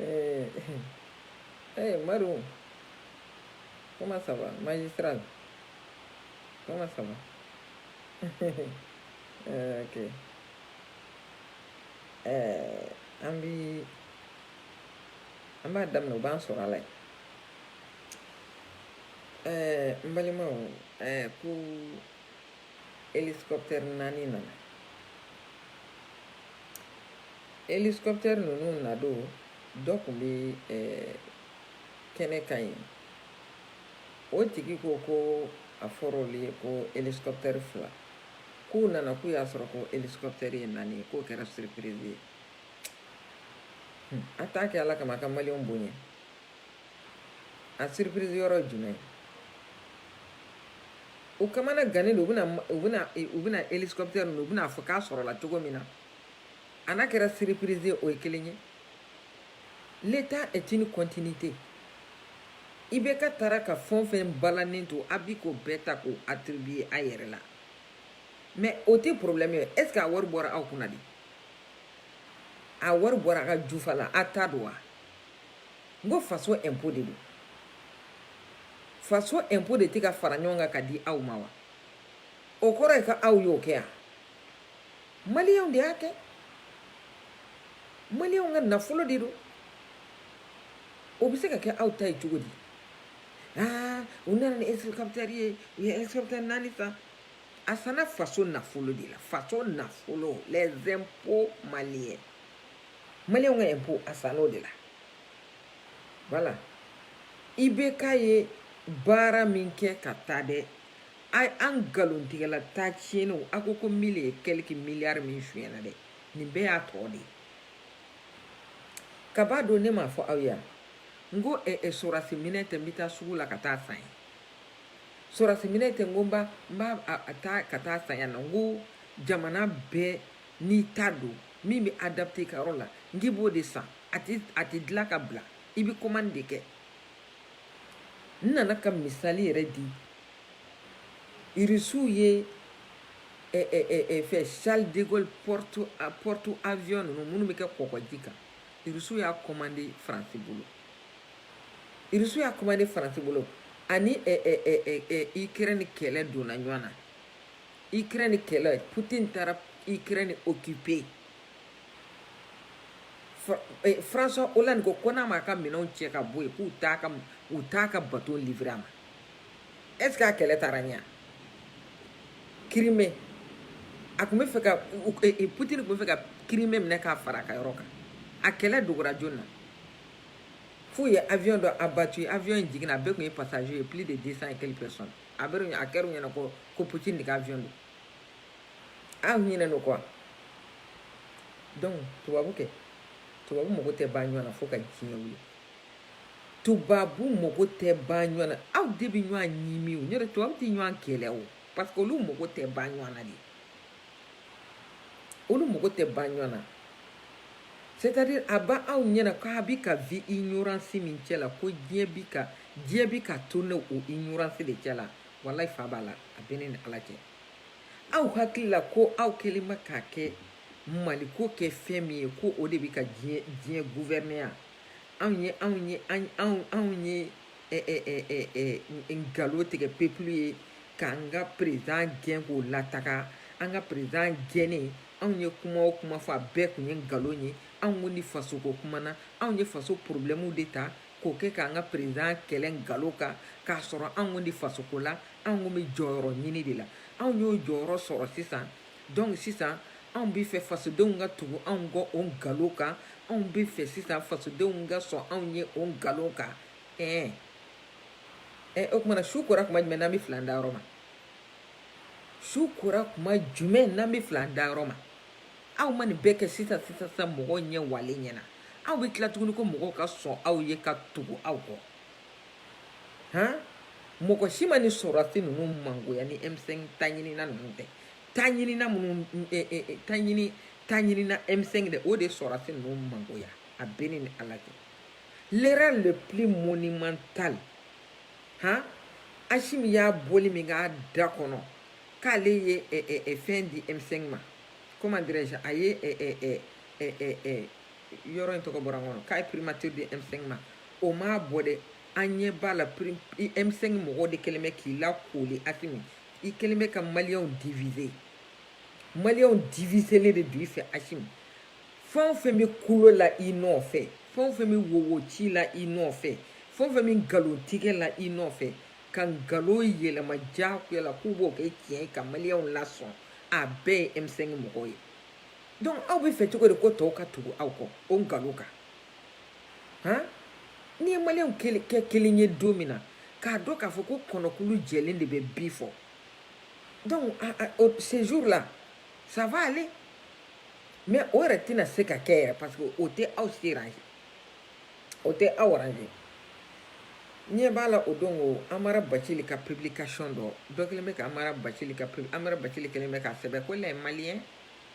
Eh, eh, Marou, comment ça va Magistral, comment ça va eh, Ok. Eh, an bi an b'a daminɛ u b'an sɔrɔ a la yen ɛɛ n balimaw ɛɛ ko hélicoptère naani nana hélicoptère ninnu nadon dɔ tun bɛ eh, kɛnɛ kan yen o tigi ko ko a fɔra olu ye ko hélicoptère fila k'u nana k'u y'a sɔrɔ ko hélicoptère ye naani ye k'o kɛra surprise ye a t'a kɛ ala kama a ka maliyɛnw bonya a surprise yɔrɔ ye jumɛn ye u kamana gannen don u bɛna u bɛna u bɛna hélicoptère ninnu u bɛna a fɔ k'a sɔrɔla cogo min na a n'a kɛra surprise ye o ye kelen ye l'état est une continuité IBK taara ka fɛn o fɛn balannen to a bi k'o bɛɛ ta k'o attribuer a yɛrɛ la mais o tɛ problème ye est-ce que a wari bɔra aw kunna de a wari bɔra a ka jufa la a ta don wa n ko faso impôt de don faso impôt de tɛ ka fara ɲɔgɔn kan ka di aw ma wa o kɔrɔ ye ka aw y'o kɛ yan maliyɛnw de y'a kɛ maliyɛnw ka nafolo de don o bɛ se ka kɛ aw ta ye cogo di aa u nana ni hélicoptère ye u ye hélicoptère naani san a sanna faso nafolo de la faso nafolo les impôts maliens maliyɛnw ka impôt a san'o de la voilà IBK ye baara min kɛ ka taa dɛ an nkalontigɛla taa tiɲɛniw a ko ko mille et quelques milliards min sonyɛna dɛ nin bɛɛ y'a tɔ de ye ka b'a don ne m'a fɔ aw ye yan n ko ɛ ɛ sɔrɔsi minɛn tɛ n bɛ taa sugu la ka taa san ye sɔrɔsi minɛn tɛ n ko n b'a n b'a a taa ka taa san yan nɔ n ko jamana bɛɛ n'i ta don min bɛ adapté i ka yɔrɔ la n k'i b'o de san a tɛ dilan ka bila i bɛ commande de kɛ n nana ka misali yɛrɛ di irisiw ye fɛn charles de gaulle porte porte avion ninnu minnu bɛ kɛ kɔgɔji kan irisiw y'a commandé faransi bolo irisiw y'a commandé faransi bolo ani ukraine kɛlɛ donna ɲɔgɔn na ukraine kɛlɛ putin taara ukraine okipe eh, françois hollande ko ko n'a m'a ka minɛnw cɛ ka bɔ yen k'u t'a ka u t'a ka baton livre a ma est ce que a kɛlɛ taara ɲɛ kirime a tun bɛ fɛ ka eh, eh, putin tun bɛ fɛ ka kirime minɛ k'a fara a ka yɔrɔ kan a kɛlɛ dogora jɔn na f'u ye avion dɔ abattu avion in jiginna a bɛɛ tun ye passager ye plus de 200 et quelques personnes a bɛ a kɛra u ɲɛna ko ko putin de ka avion don aw ɲinɛn'o kɔ donc tubabu kɛ tubabu mago tɛ ban ɲɔgɔn na fo ka diɲɛ wuli tubabu mago tɛ ban ɲɔgɔn na aw de bɛ ɲɔgɔn ɲimi o n'o tɛ tubabu tɛ ɲɔgɔn kɛlɛ o parce que olu mago tɛ ban ɲɔgɔn na de olu mago tɛ ban ɲɔgɔn na c'est-à-dire a b'aw ɲɛna k'a bɛ ka vi ignorance min cɛ la ko diɲɛ bi ka diɲɛ bi ka tourne o ignorance de cɛ la walayi fa b'a la a bɛ ne ni ala cɛ aw hakili la ko aw kɛlen bɛ k'a kɛ maliko kɛ fɛn min ye ko o de bɛ ka diɲɛ diɲɛ gouverneya anw ye anw ye anw anw ye nkalon tigɛ peuple ye k'an ka perezan gɛn k'o lataga an ka perezan gɛnnen anw ye kuma o kuma fɔ a bɛɛ tun ye nkalon ye anw tun tɛ fasoko kuma na anw ye faso porobilɛmuw de ta k'o kɛ k'an ka perezan kɛlɛ nkalon kan k'a sɔrɔ anw tun tɛ fasoko la anw tun bɛ jɔyɔrɔ ɲini de la anw y'o jɔyɔrɔ sɔrɔ sisan dɔnku sisan anw bɛ fɛ fasodenw ka tugu anw kɔ o nkalon kan anw bɛ fɛ sisan fasodenw ka sɔn anw ye o nkalon kan ɛɛ ɛ o tuma na su kora tuma jumɛn n'an bɛ fil'an dayɔrɔ ma su kora tuma jumɛn n'an bɛ fil'an dayɔrɔ ma aw ma nin bɛɛ kɛ sisan sisan sisan mɔgɔw ɲɛ waalen ɲɛna aw bɛ tila tuguni ko mɔgɔw ka sɔn aw ye ka tugu aw kɔ han mɔgɔ si ma nin sɔrɔdasi ninnu mangoya ni M5 taɲinina ninnu tɛ taɲinina minnu taɲini taɲinina M5 dɛ o de sɔrɔdasi ninnu mangoya a bɛ ne ni ala cɛ l'erreur le plus monumental han Asimi y'a boli min k'a da kɔnɔ k'ale ye eh, eh, eh, fɛn di M5 ma comment dirais-je a ye yɔrɔ in tɔgɔ bɔra n kɔnɔ k'a ye primature di M5 ma o m'a bɔ dɛ an ɲɛ b'a la m5 mɔgɔw de kɛlen bɛ k'i lakoli asimi i kɛlen bɛ ka maliyɛnw divize maliyɛnw divizelen de don i fɛ asimi fɛn o fɛn bɛ kulo la i nɔfɛ fɛn o fɛn bɛ wowo ci la i nɔfɛ fɛn o fɛn bɛ nkalon tigɛ la i nɔfɛ ka nkalon yɛlɛma diyagoya la k'u b'o kɛ tiɲɛ ye ka maliyɛnw lasɔn a bɛɛ ye m5 mɔgɔw ye donc aw bɛ fɛ cogo di ko tɔw ka tugu aw kɔ o nkalon kan han n'i ye maliyɛnw kɛ kelen ye don min na k'a dɔn k'a fɔ ko kɔnɔkulu jɛlen de bɛ bi fɔ donc ce jour là ça va aller mais o yɛrɛ tɛna se ka kɛ yɛrɛ parce que o tɛ aw s'arranger o tɛ aw arranger ɲɛ b'a la o don o amara bacili ka publication dɔ dɔ kelen bɛ ka amara bacili ka amara bacili kelen bɛ k'a sɛbɛn ko les maliens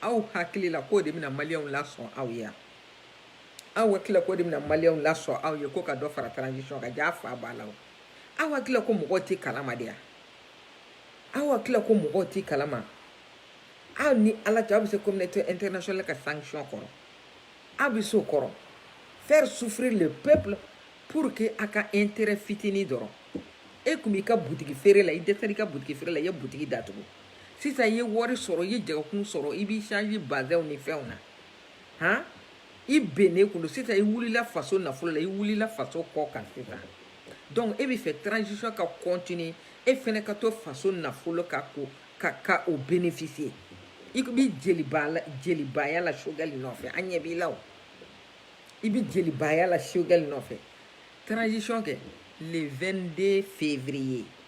aw hakili la k'o de bɛna maliyɛnw lasɔn aw ye yan aw hakili la k'o de bɛna maliyɛnw lasɔn aw ye ko ka dɔ fara transition kan jaa fa b'a la o aw hakili la ko mɔgɔw tɛ kalama de yan aw hakili la ko mɔgɔw tɛ kalama aw ni ala cɛ aw bɛ se communauté internationale ka sanction kɔrɔ aw bɛ se o kɔrɔ faire souffrir le peuple pour que a ka intérêt fitinin dɔrɔn e tun b'i ka butigi feere la i dɛsɛra i ka butigi feere la i ye butigi datugu sisan i ye wari sɔrɔ i ye jagokun sɔrɔ i b'i changer bazɛnw ni fɛnw na han i bɛnnen kun don sisan i wulila faso nafolo la i wulila faso kɔ kan sisan donc e bɛ fɛ transition ka continuer e fɛnɛ ka to faso nafolo ka ko ka ka o bénéficier i bɛ jeliba la jelibaya la Choguel nɔfɛ an ɲɛ b'i la o i bɛ jelibaya la Choguel nɔfɛ transition kɛ le 22 février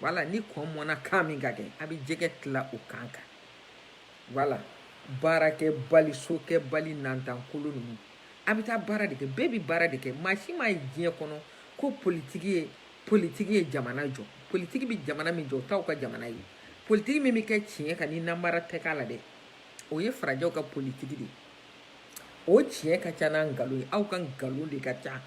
voilà ni kɔ mɔnna kan min kan kɛ a bɛ jɛgɛ tila o kan kan voilà baarakɛbali sokɛbali nantankolo ninnu a bɛ taa baara de kɛ bɛɛ bɛ baara de kɛ maa si ma ye diɲɛ kɔnɔ ko politiki ye politiki ye jamana jɔ politiki bɛ jamana min jɔ o t'aw ka jamana ye politiki min bɛ kɛ tiɲɛ kan ni namara tɛ k'a la dɛ o ye farajɛw ka politiki de ye o tiɲɛ ka ca n'a nkalon ye aw ka nkalon de ka ca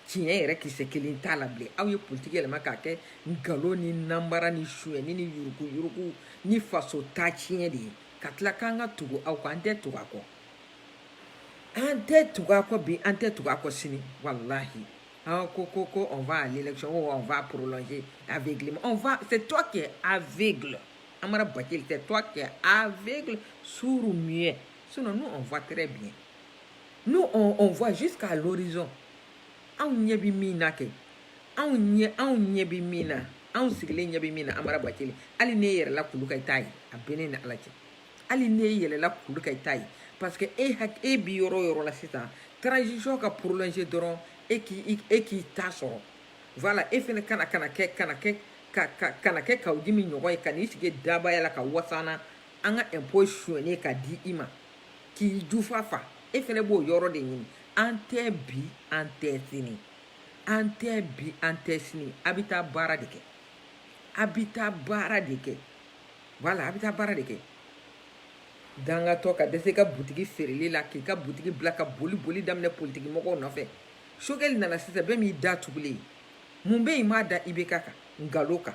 tiɲɛ yɛrɛ kisɛ kelen t'a la bilen aw ye politiki yɛlɛma k'a kɛ nkalon ni nanbara ni suyɛni ni yuruguyurugu ni faso ta tiɲɛ de ye ka tila k'an ka tugu aw kɔ an tɛ tugu a kɔ an tɛ tugu a kɔ bi an tɛ tugu a kɔ sini walahi an ko ko ko on va à l'élection ou on va prolonger aveuglément on va c'est toi qui es aveugle Amara Bacili c'est toi qui es aveugle sourd muet sinon nous on voit très bien nous on, on voit jusqu'à l'horizon anw ɲɛ bɛ min na kɛ anw ɲɛ anw ɲɛ bɛ min na anw sigilen ɲɛ bɛ min na amara bacili hali n'e yɛlɛla kulu kan i t'a ye a bɛ ne ni ala cɛ hali n'e yɛlɛla kulu kan i t'a ye parce que e hak e bi yɔrɔ o yɔrɔ la sisan transition ka prolonger dɔrɔn e k'i e k'i ta sɔrɔ voilà e fɛnɛ kana kana kɛ kana kɛ ka ka kana kɛ Kaou Djim ɲɔgɔn ye ka n'i sigi dabayala ka wasana an ka impôt suɲɛnen ka di i ma k'i jufa fa e fɛnɛ b'o yɔrɔ de ɲini an tɛ bi an tɛ sini an tɛ bi an tɛ sini a bɛ taa baara de kɛ a bɛ taa baara de kɛ voilà a bɛ taa baara de kɛ dangatɔ ka dɛsɛ ka butigi feereli la k'i ka butigi bila ka boli boli daminɛ politiki mɔgɔw nɔfɛ choguel nana sisan bɛɛ m'i da tugulen ye mun bɛ yen i m'a da ibk kan nkalon kan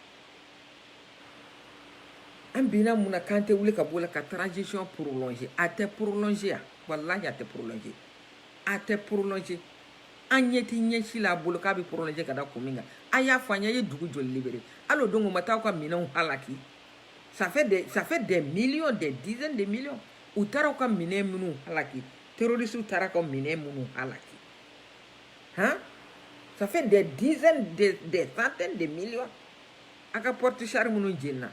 an binna mun na k'an tɛ wuli ka b'o la ka transition prolonger a tɛ prolonger yan walahi a tɛ prolonger a tɛ prolonger an ɲɛ tɛ ɲɛsi la a bolo k'a bɛ prolonger ka da kun min kan a y'a fɔ an ye a ye dugu joli libere hali o don u ma taa aw ka minɛnw halaki ça fait des ça fait des millions des dizaines de millions u taara aw ka minɛn minnu halaki terroristes taara aw ka minɛn minnu halaki Hein? Ça fait des dizaines, des, des centaines de millions. A ka porte char minnu jenina.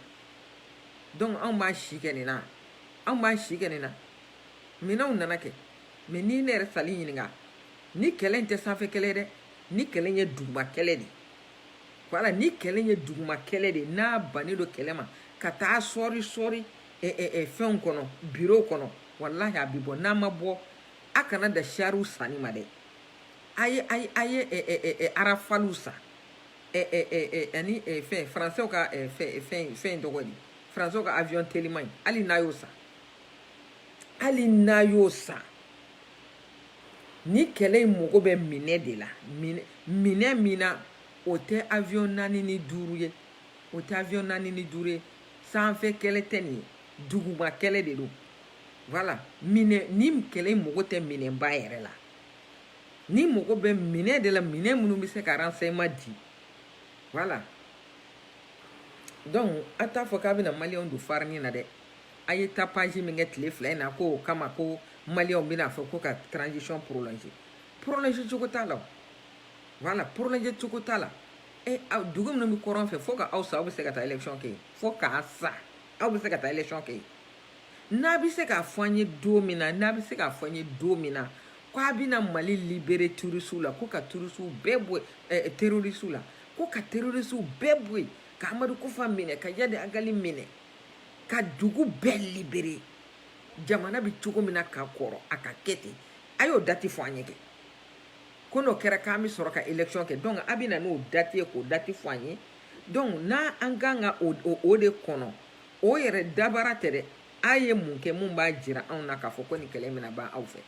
Donc an b'a si kɛ nin na. An b'a si kɛ nin na. Minɛnw nana kɛ. Mais ni ne yɛrɛ Sali ɲininka. Ni kɛlɛ in tɛ sanfɛ kɛlɛ dɛ. Ni kɛlɛ in ye duguma kɛlɛ de. Voilà, ni kɛlɛ in ye duguma kɛlɛ de. N'a bannen don kɛlɛ ma ka taa sɔri sɔri eh, eh, eh, fɛnw kɔnɔ, bureau kɔnɔ. Wallahi a bi bɔ n'a ma bɔ a kana da sariw sanni ma dɛ a ye a ye a ye ɛ ɛ ɛ ɛ arafaliw san ɛ ɛ ɛ ɛ ani ɛ fɛn faransɛw ka ɛ fɛn fɛn fɛn tɔgɔ di faransɛw ka avion teliman in hali n'a y'o san hali n'a y'o san ni kɛlɛ in mago bɛ minɛn de la minɛn minɛn min na o tɛ avion naani ni duuru ye o tɛ avion naani ni duuru ye sanfɛ kɛlɛ tɛ nin ye duguma kɛlɛ de don voilà minɛ ni kɛlɛ in mago tɛ minɛnba yɛrɛ la ni mago bɛ minɛn de la minɛn minnu bɛ se ka renseignement di voilà donc a t'a fɔ k'a bɛna maliyɛnw don farini na dɛ a ye tapage min kɛ tile fila in na ko o kama ko maliyɛnw bɛna fɔ ko ka transition prolonger prolonger cogo t'a la o voilà prolonger cogo t'a la e eh, aw dugu minnu bɛ kɔrɔn fɛ fo ka aw sa aw bɛ se ka taa élection kɛ yen fo k'a sa aw bɛ se ka taa élection kɛ yen n'a bɛ se k'a fɔ an ye don min na n'a bɛ se k'a fɔ an ye don min na ko a bɛna mali libere turisiw la ko ka turisiw bɛɛ bɔ eh, terorisiw la ko ka terorisiw bɛɛ bɔ yen ka amadu kufa minɛ ka yadi agali minɛ ka dugu bɛɛ libere jamana bɛ cogo min na ka kɔrɔ a ka kɛ ten a y'o dati fɔ an ye kɛ ko n'o kɛra k'an bɛ sɔrɔ ka election kɛ donc a bɛ na n'o dati ye k'o dati fɔ an ye donc n'a an kan ka o de kɔnɔ o yɛrɛ dabara tɛ dɛ a ye mun kɛ min b'a jira anw na k'a fɔ ko nin kɛlɛ bɛna ban aw fɛ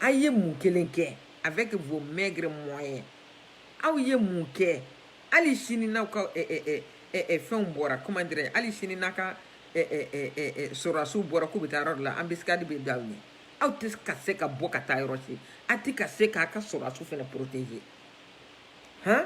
a ye mun kelen kɛ avec vos maigres moyens aw ye mun kɛ hali sini n'aw ka fɛnw bɔra comment dirais hali sini n'a ka sɔrɔdasiw bɔra k'u bɛ taa yɔrɔ dɔ la embuscade bɛ da aw ɲɛ aw tɛ ka se ka bɔ ka taa yɔrɔ si a tɛ ka se k'a ka sɔrɔdasiw fana protéger han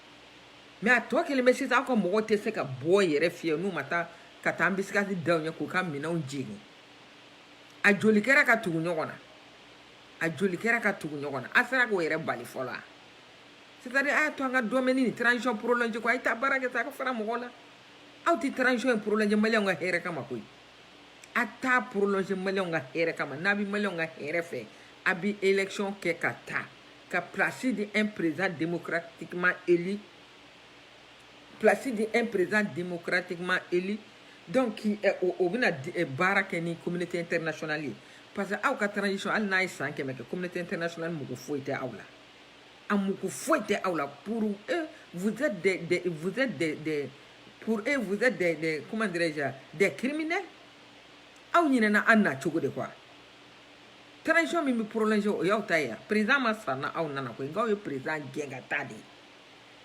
mais a tɔ kelen bɛ sisan aw ka mɔgɔw tɛ se ka bɔ yɛrɛ fiyɛ n'u ma taa ka taa embuscade da u ɲɛ k'u ka minɛnw jeni a joli kɛra ka tugu ɲɔgɔn na a joli kɛra ka tugu ɲɔgɔn na a sera k'o yɛrɛ bali fɔlɔ wa c'est-à-dire a y'a to an ka dɔmɛni nin transition prolonger ko a ye taa baara kɛ sa a ka fara mɔgɔw la aw tɛ transition in prolonger maliyɛnw ka hɛrɛ kama koyi a t'a prolonger maliyɛnw ka hɛrɛ kama n'a bɛ maliyɛnw ka hɛrɛ fɛ a bɛ élection kɛ ka taa ka place di un président démocratiquement élu place di un président démocratiquement élu donc o bɛna baara kɛ ni communauté internationale ye parce que aw ka transition hali n'a ye san kɛmɛ kɛ communauté internationale mago foyi tɛ aw la a mago foyi tɛ aw la pour eux vous êtes des, des vous êtes des, des pour eux vous êtes des, des comment dirais-je des criminels aw ɲinɛna a nacogo de kɔ wa transition min bɛ prolongé o y'aw ta ye wa président ma sara na aw nana koyi nka aw ye président gɛn ka taa de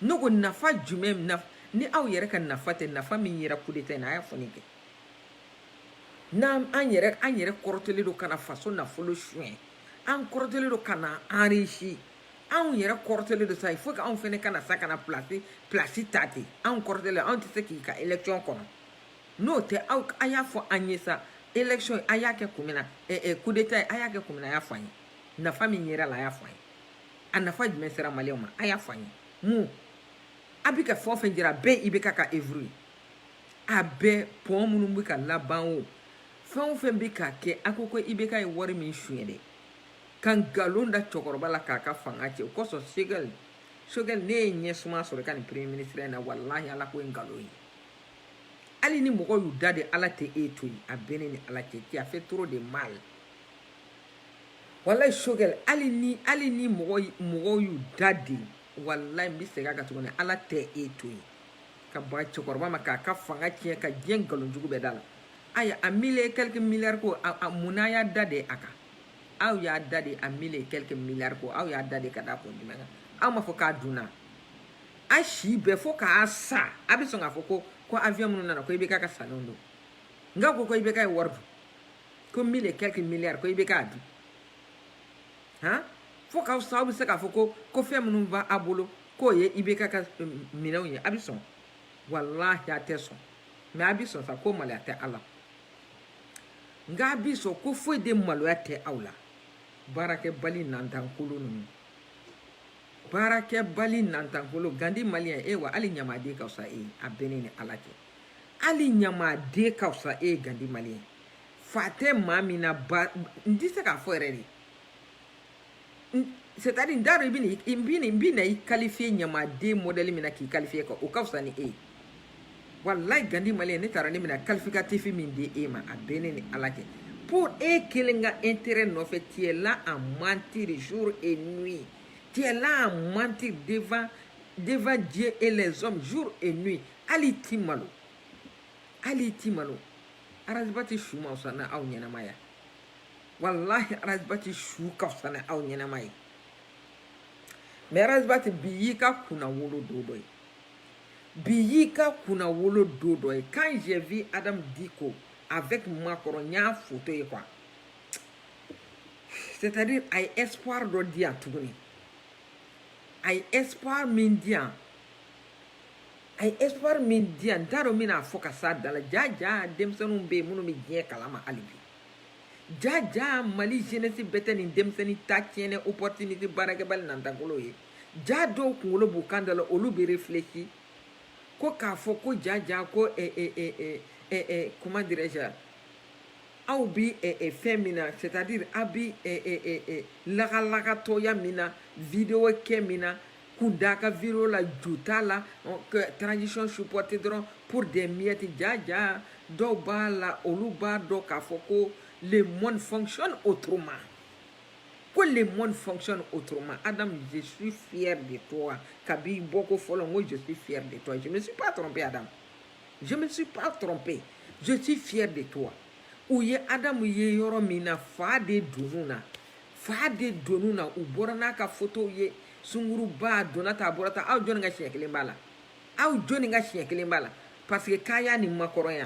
ne ko nafa jumɛn naf ni aw yɛrɛ ka nafa tɛ nafa min yera coup d'état in na a y'a fɔ ne kɛ n'an an yɛrɛ an yɛrɛ kɔrɔtɛlen don ka na faso nafolo suɲɛ an kɔrɔtɛlen don ka na enrichi anw yɛrɛ kɔrɔtɛlen don sa il faut que anw fɛnɛ ka na sa ka na place place ta ten anw kɔrɔtɛlen anw tɛ se k'i ka élection kɔnɔ n'o tɛ aw a y'a fɔ an ye sa élection a y'a kɛ kun min na coup d'état a y'a kɛ kun min na a y'a fɔ an ye nafa min yera a la a y'a fɔ an ye a nafa jumɛn sera maliyɛnw ma a y'a fɔ an ye mun a bɛ ka fɛn o fɛn jira a bɛɛ IBK ka œuvre ye a bɛɛ pɔn minnu bɛ ka laban o fɛn o fɛn bɛ ka kɛ a ko ko IBK ye wari min suɲɛ dɛ ka nkalon da cɛkɔrɔba la k'a ka fanga cɛn o kosɔn Choguel Choguel n'e ye ɲɛsuma sɔrɔ i ka nin premier ministre in na walahi ala ko ye nkalon ye hali ni mɔgɔw y'u da de ala tɛ e to yen a bɛ ne ni ala cɛ tu as fait trop de mal walayi Choguel hali ni hali ni mɔgɔ mɔgɔw y'u da de walayi n bɛ segin a kan tuguni ala tɛ e to yen ka baga cɛkɔrɔba ma k'a ka fanga tiɲɛ ka diɲɛ nkalon jugu bɛɛ da a la aya a mille quelques milliards ko a mun na a y'a da de a kan aw y'a da de a mille quelques milliards ko aw y'a da de ka da kun jumɛn kan aw ma fɔ k'a dunna a si bɛɛ fo k'a sa a bɛ sɔn k'a fɔ ko ko avion minnu nana ko IBK ka sannenw don nka ko ko IBK ye wari dun ko mille et quelques milliards ko IBK y'a dun han fo k'aw sa aw bɛ se k'a fɔ ko ko fɛn minnu b'a bolo k'o ye IBK ka minɛnw ye a bɛ sɔn wallahi a tɛ sɔn mais a bɛ sɔn sa ko maloya tɛ a la nka a bɛ sɔn ko foyi de maloya tɛ aw la baarakɛbali nantankolon ninnu baarakɛbali nantankolo gandi maliyɛn e wa hali ɲamaden ka fisa e ye a bɛ ne ni ala cɛ hali ɲamaden ka fisa e ye gandi maliyɛn fa tɛ maa min na ba n tɛ se k'a fɔ yɛrɛ de c'est à dire n t'a dɔn i bɛna i bɛna i bɛna i qualifier ɲamaden modèle min na k'i qualifier ka o ka fisa ni e ye wallahi gandi maliyɛn ne t'a dɔn ne bɛna qualificatif min di e ma a bɛ ne ni ala cɛ pour e kelen ka intérêt nɔfɛ tu es là à mentir jour et nuit tu es là à mentir devant devant Dieu et les hommes jour et nuit hali ti malo hali ti malo Ras Bath su ma fisa n'aw ɲɛnama ye wa wallahi Ras Bath su ka fisa n'aw ɲɛnama ye mais Ras Bath bi y'i ka kunnawolo don dɔ ye bi y'i ka kunnawolo don dɔ ye quand j'ai vu Adam Dicko avec Macron n y'a foto ye quoi c'est à dire a ye espoir dɔ di yan tuguni a ye espoir min di yan a ye espoir min di yan n t'a dɔn n bɛna fɔ ka s'a dan na ja ja denmisɛnninw bɛ yen minnu bɛ diɲɛ kalama hali bi ja ja mali jeunesse bɛɛ tɛ nin denmisɛnnin ta tiɲɛnen opportunité baarakɛbali nantankolo ye ja dɔw kunkolo b'u kan da la olu bɛ réfléchir ko k'a fɔ ko ja ja ko comment dirais-je aw bi fɛn min na c'est à dire aw bi lagalagatɔya min na vidéo kɛ min na kun t'aw ka vidéo la ju t'a la transition supporter dɔrɔn pour des miettes ja ja dɔw b'a la olu b'a dɔn k'a fɔ ko le monde fonctionne autrement ko le monde fonctionne autrement. Adam, je suis fier de toi. Kabi bɔko fɔlɔ n ko, je suis fier de toi. Je ne me suis pas trompé, Adam. Je ne me suis pas trompé. Je suis fier de toi. U ye Adam ye yɔrɔ min na fa de donn'u na. Fa de donn'u na u bɔra n'a ka photo ye sunguruba donna tan a bɔra tan aw jɔnni ka siɲɛ kelen b'a la aw jɔnni ka siɲɛ kelen b'a la parce que k'a y'a ni Macron ye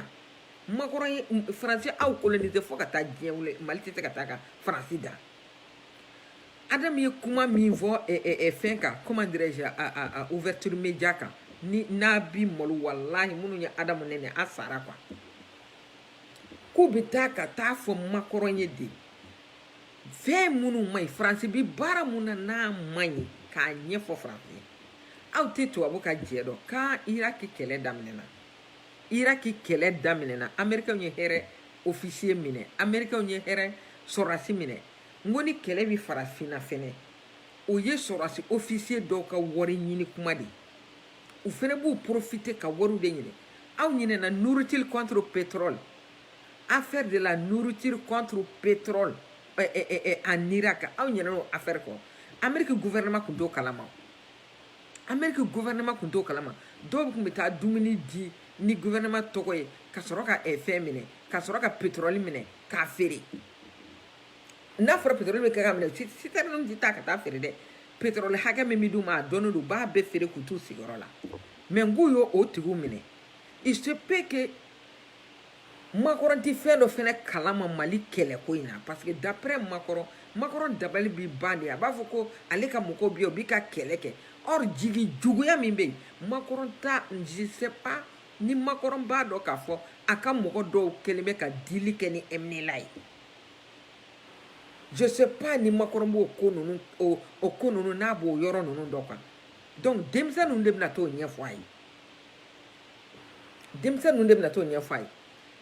makɔrɔn ye faransi aw colonisé fo ka taa diɲɛ wuli mali tɛ se ka taa ka faransi dan adamu ye kuma min fɔ fɛn kan comment dirais-je a ouverture media kan ni n'a bi malo walahi minnu ye adamu nɛnɛ a sara quoi k'u bɛ taa ka t'a fɔ makɔrɔn ye de fɛn minnu man ɲi faransi bi baara mun na n'a man ɲi k'a ɲɛfɔ faransi ye aw tɛ tubabu ka jɛ dɔn quoi iraki kɛlɛ daminɛna iraki kɛlɛ daminɛna amerikɛnw y'u yɛrɛ ofisiye minɛ amerikɛnw y'u yɛrɛ sɔrɔdasi minɛ n ko ni kɛlɛ bɛ farafinna fɛnɛ o ye sɔrɔdasi ofisiye dɔw ka wari ɲini kuma de ye u fɛnɛ b'u profiter ka wariw de ɲini aw ɲinɛna nourriture contre pétrole affaire de la nourriture contre pétrole eh, eh, eh, en irak aw ɲinɛna o affaire kɔ ameriki gouvernement kun t'o kalama ameriki gouvernement kun t'o kalama dɔw kun bɛ taa dumuni di ni gouvernement tɔgɔ ye ka sɔrɔ ka eh, fɛn minɛ ka sɔrɔ ka pétrole minɛ k'a feere n'a fɔra pétrole bɛ kɛ ka minɛ citerne tɛ taa ka taa feere dɛ pétrole hakɛ min bɛ d'u ma a dɔnnen don u b'a bɛɛ feere k'u t'u sigiyɔrɔ la mais n k'u y'o o tigiw minɛ il se peut que makɔrɔn tɛ fɛn dɔ fɛnɛ kalama mali kɛlɛko in na parce que d'après makɔrɔn makɔrɔn dabali bɛ ban de a b'a fɔ ko ale ka mɔgɔw bɛ yen u bɛ ka kɛlɛ kɛ or jigi juguya min bɛ yen makɔrɔn ta je sais pas ni makɔrɔn b'a dɔn k'a fɔ a ka mɔgɔ dɔw kɛlen bɛ ka deal kɛ ni mnla ye je sais pas ni makɔrɔn b'o ko ninnu o o ko ninnu n'a b'o yɔrɔ ninnu dɔn quoi donc denmisɛn ninnu de bɛna t'o ɲɛfɔ a ye denmisɛn ninnu de bɛna t'o ɲɛfɔ a ye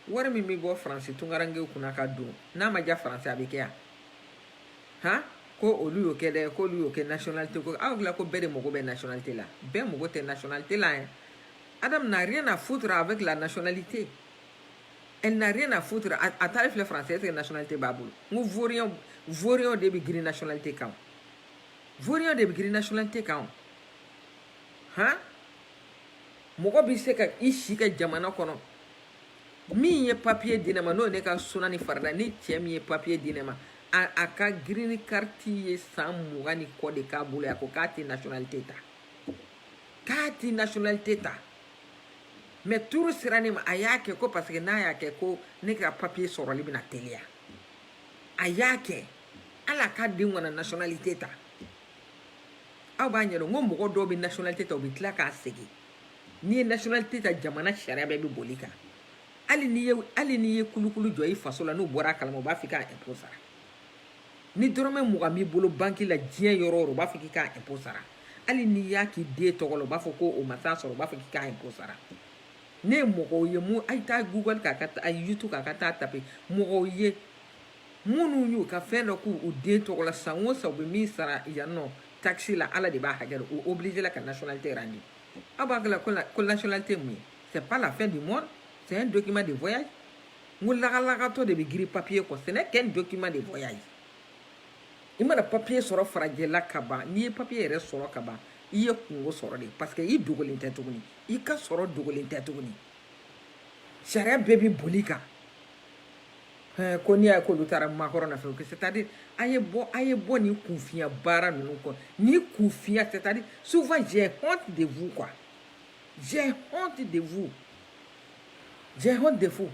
wari min bɛ bɔ faransi tunkarankew kunna ka don n'a ma diya faransi a bɛ kɛ yan han ko olu y'o kɛ dɛ k'olu y'o kɛ nationalité ko aw hakilila ko bɛɛ de mago bɛ nationalité la bɛɛ mago tɛ nationalité la yɛrɛ adam n'a rien à foutre avec la nationalité elle n'a rien à foutre a taari filɛ faransi est-ce que nationalité b'a bolo n ko vaurien vaurien de bɛ girin nationalité kan vaurien de bɛ girin nationalité kan han mɔgɔ bɛ se ka i si kɛ jamana kɔnɔ min ye papiye di ne ma n'o ne ka suna ni farida ni cɛ min ye papiye di ne ma a ka green card ye san mugan ni kɔ de k'a bolo a ko k'a tɛ nationalité ta k'a tɛ nationalité ta mais tour sera ne ma a y'a kɛ ko parce que n'a y'a kɛ ko ne ka papiye sɔrɔli bɛna teliya a y'a kɛ ala ka den kana nationalité ta aw b'a ɲɛdɔn ko mɔgɔ dɔw bɛ nationalité ta u bɛ tila k'a segin n'i ye nationalité ta jamana sariya bɛɛ bɛ bol'i kan hali n'i ye hali n'i ye kulukulu jɔ i faso la n'u bɔra a kalama u b'a fɔ i k'a impôt sara ni dɔrɔmɛ mugan b'i bolo banki la diɲɛ yɔrɔ o yɔrɔ u b'a fɔ k'i k'a impôt sara hali n'i y'a k'i den tɔgɔ la u b'a fɔ ko o ma taa sɔrɔ u b'a fɔ k'i k'a impôt sara ne ye mɔgɔw ye mun a ye taa google kan ka a youtube kan ka taa taper mɔgɔw ye minnu y'u ka fɛn dɔ k'u den tɔgɔ la san o san u bɛ min sara yan nɔ takisi la ala de b'a hakɛ dɔn u obligé la ka nationalité rendre aw hakili la ko nationalité mun ye c'est pas la fin du monde c'est un document de voyage n ko lagalagatɔ de bɛ girin papier kɔ ce n'est qu'un document de voyage i mana papier sɔrɔ farajɛla ka ban n'i ye papier yɛrɛ sɔrɔ ka ban i ye kunko sɔrɔ de parce que i dogolen tɛ tuguni i ka sɔrɔ dogolen tɛ tuguni sariya bɛɛ bɛ bol'i kan Eh, ko n'i y'a ye k'olu taara Macron nɔfɛ que c'est à dire a ye bɔ a ye bɔ nin kunfinya baara ninnu kɔ ni kunfinya c'est à dire souvent j'ai honte de vous quoi j'ai honte de vous j'ai honte de vous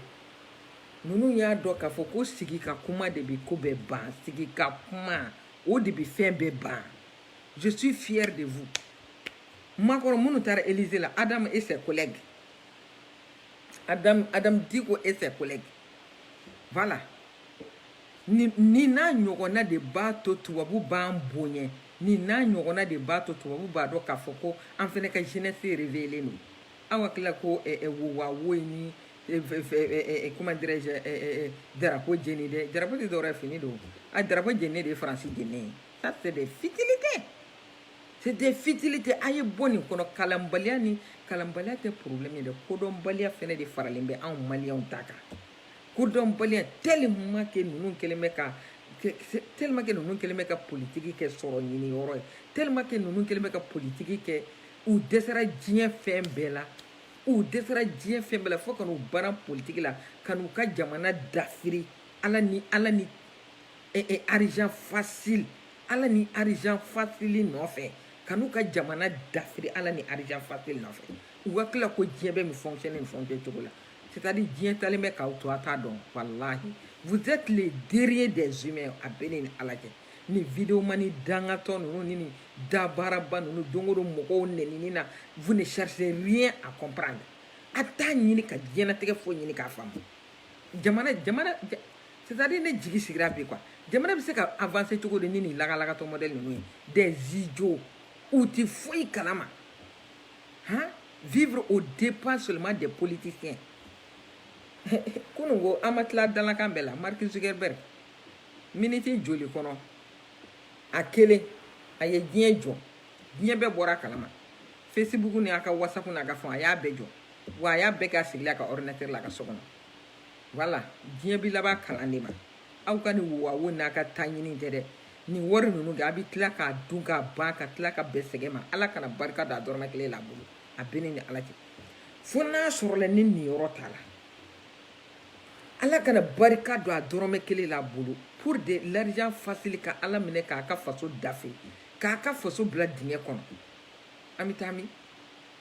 ninnu y'a dɔn k'a fɔ ko sigi ka kuma de bɛ ko bɛɛ ban sigi ka kuma o de bɛ fɛn bɛɛ ban je suis fier de vous makɔrɔ minnu taara Élysée la Adam et ses collègues Adam Adam Dicko et ses collègues Bala ni n'a ɲɔgɔnna de b'a to tubabu b'an bonya ni n'a ɲɔgɔnna de b'a to tubabu b'a dɔn k'a fɔ ko an fana ka jinɛinɛ feere vlen don aw ka tila ko wa wo ni kuma darako jeni dɛ dara de dɔw fini don a daraba jeni de ye farasi jeni ye ta tɛ de fitiri kɛ C'est des futilités a ye bɔ nin kɔnɔ kalanbaliya ni kalanbaliya tɛ problème ye dɛ kodɔnbaliya fɛnɛ de faralen bɛ anw maliyɛnw ta kan kodɔnbaliya tellement que ninnu kɛlen bɛ ka tellement que ninnu kɛlen bɛ ka politiki kɛ sɔrɔ ɲini yɔrɔ ye tellement que ninnu kɛlen bɛ ka politiki kɛ u dɛsɛra diɲɛ fɛn bɛɛ la u dɛsɛra diɲɛ fɛn bɛɛ la fo ka n'u bara politiki la ka n'u ka jamana dafiri ala ni ala ni e, argent facile ala ni argent facile nɔfɛ ka n'u ka jamana dafiri ala ni argent facile nɔfɛ u hakili la ko diɲɛ bɛ min fonctionner nin fonctionner cogo la c'est à dire diɲɛ taalen bɛ k'aw to a t'a dɔn walahi vous êtes les derniers des humains a bɛ ne ni ala cɛ ni videomani dangatɔ ninnu ni nin dabaaraba ninnu don o don mɔgɔw nɛnini na vous ne cherchez rien à comprendre a t'a ɲini ka diɲɛnatigɛ foyi ɲini k'a faamu jamana jamana c'est-à-dire ne jigi sigira bi quoi jamana bɛ se ka avancer cogo di ni nin lagalagatɔ modèle ninnu ye des idiots u ti foyi kalama han vivre aux dépens seulement des politiciens kunu ko an ma tila dalakan bɛɛ la mark zuckerberg miniti joli kɔnɔ a kelen a ye diɲɛ jɔ diɲɛ bɛɛ bɔra a kalama facebook ni a ka whatsapp n'a ka fɛnw a y'a bɛɛ jɔ wa a y'a bɛɛ kɛ a sigilen a ka ordinateur la a ka so kɔnɔ voilà diɲɛ bi laban kalan de ma aw ka nin wawo n'a ka taa ɲini tɛ dɛ nin wari ninnu kɛ a bɛ tila k'a dun k'a ban ka tila ka bɛn sɛgɛn ma ala kana barika don a dɔrɔmɛ kelen la a bolo a bɛ ne ni ala cɛ fo n'a sɔrɔla ne niyɔrɔ t'a la ala kana barika don a dɔrɔmɛ kelen la a bolo pour de l'argent facile ka ala minɛ k'a ka faso dafe k'a ka faso bila dingɛ kɔnɔ an bɛ taa min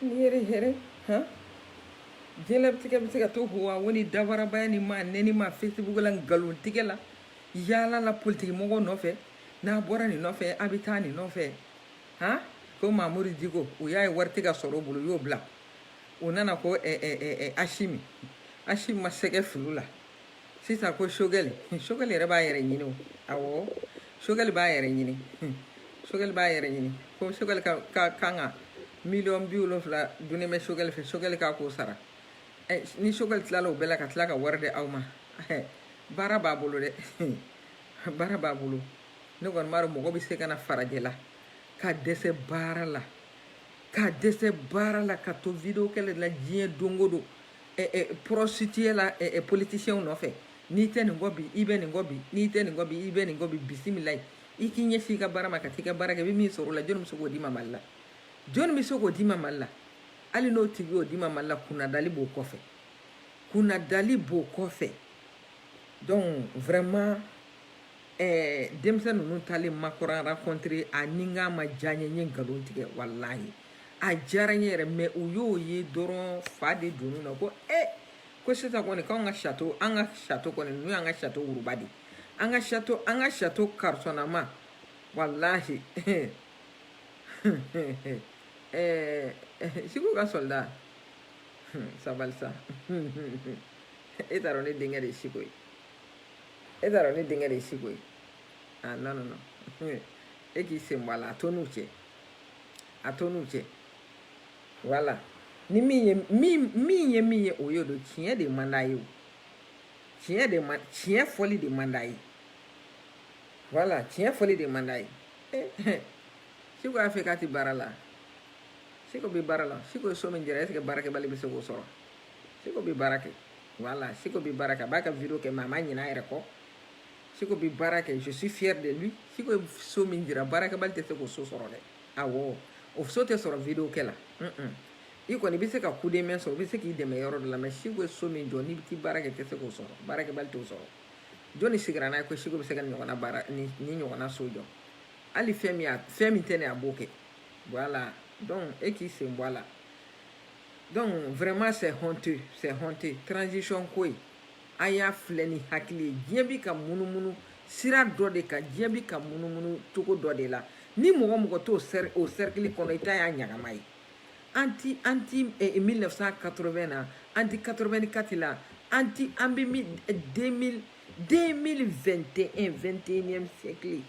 Ni yɛrɛ hɛrɛ han diɲɛlatigɛ bɛ se ka to hoa wo ni dabarabaya ni maa neni ma facebook la nkalon tigɛ la yaala la politiki mɔgɔ nɔfɛ n'a bɔra nin nɔfɛ a bɛ taa nin nɔfɛ han ko mamudu diko u y'a ye wari tɛ ka sɔrɔ o bolo u y'o bila u nana ko eh, eh, eh, eh, ashimi ashimi ma sɛgɛ fili la sisan ko sogɛli sogɛli yɛrɛ b'a yɛrɛ ɲini o awɔ sogɛli b'a yɛrɛ ɲini sogɛli b'a yɛrɛ ɲini ko sogɛli ka ka kan ka miliyɔn bi wolonfila dunnen bɛ sogɛli fɛ sogɛli k'a k'o sara ɛ ni sogɛli tilala o bɛɛ la ka tila ka wari di aw ma baara b'a bolo dɛ baara b'a bolo ne kɔni m'a dɔn mɔgɔ bɛ se ka na farajɛ la ka dɛsɛ baara la ka dɛsɛ baara la ka to video kɛlɛ la diɲɛ don o don eh, eh, prostituée la eh, eh, politicien nɔfɛ n'i tɛ nin kɔ bi i bɛ nin kɔ bi n'i tɛ nin kɔ bi i bɛ nin kɔ bi bisimila i k'i ɲɛsin i ka baara ma ka t'i ka baara kɛ i bɛ min sɔrɔ o la jɔni bɛ se k'o d'i ma mali la jɔni bɛ se k'o d'i ma mali la hali n'o tigi y'o d'i ma mali la kunnadali b'o kɔfɛ kunnadali b'o kɔfɛ donc vraiment ɛɛ denmisɛn ninnu taalen macron rencontrer a ni n k'a ma diya n ye n ye nkalon tigɛ walayi a diyara n ye yɛrɛ mais u y'o ye dɔrɔn fa de donn'u na ko e ko sisan kɔni k'anw ka château an ka château kɔni n'u y'an ka château wuruba dɛ an ka château an ka château karisɔnnama walahi ɛɛ siko ka soldat sabali sa e t'a dɔn ne denkɛ de ye siko ye e t'a dɔn ne denkɛ de ye siko ye ah non non non e k'i sen bɔ a la a to n'u cɛ a to n'u cɛ voilà ni min ye min min ye min ye o y'o don tiɲɛ de man d'a ye o tiɲɛ de man tiɲɛ fɔli de man d'a ye voilà tiɲɛ fɔli de man d'a ye siko y'a fɔ k'a tɛ baara la siko bɛ baara la siko ye so min jira est-ce que baarakɛbali bɛ se k'o sɔrɔ seko bɛ baara kɛ voilà seko bɛ baara kɛ a b'a ka video kɛ mais a ma ɲinɛ a yɛrɛ kɔ seko bɛ baara kɛ je suis fier de lui seko ye so min jira baarakɛbali tɛ se k'o so sɔrɔ dɛ awɔ o so tɛ sɔrɔ video kɛ la i kɔni i bɛ se ka coup de main sɔrɔ u bɛ se k'i dɛmɛ yɔrɔ dɔ la mais seko ye so min jɔ n'i bɛ t'i baara kɛ tɛ se k'o sɔrɔ baarakɛbali t'o sɔrɔ jɔnni sigira n'a ye ko seko bɛ se ka nin ɲɔgɔnna baara ni ɲɔgɔnna so jɔ hali fɛn min fɛn min tɛ ne a b'o kɛ voilà donc e k'i sen bɔ a la donc vraiment c'est honteux c'est honteux transition ko in a y'a filɛ ni hakili ye diɲɛ bi ka munumunu sira dɔ de kan diɲɛ bi ka munumunu cogo dɔ de la ni mɔgɔ mɔgɔ t'o sɛri o cercle kɔnɔ i ta y'a ɲagama ye an ti an ti 1980 na an ti 84 la an ti an bɛ 2000 2021 21e siècle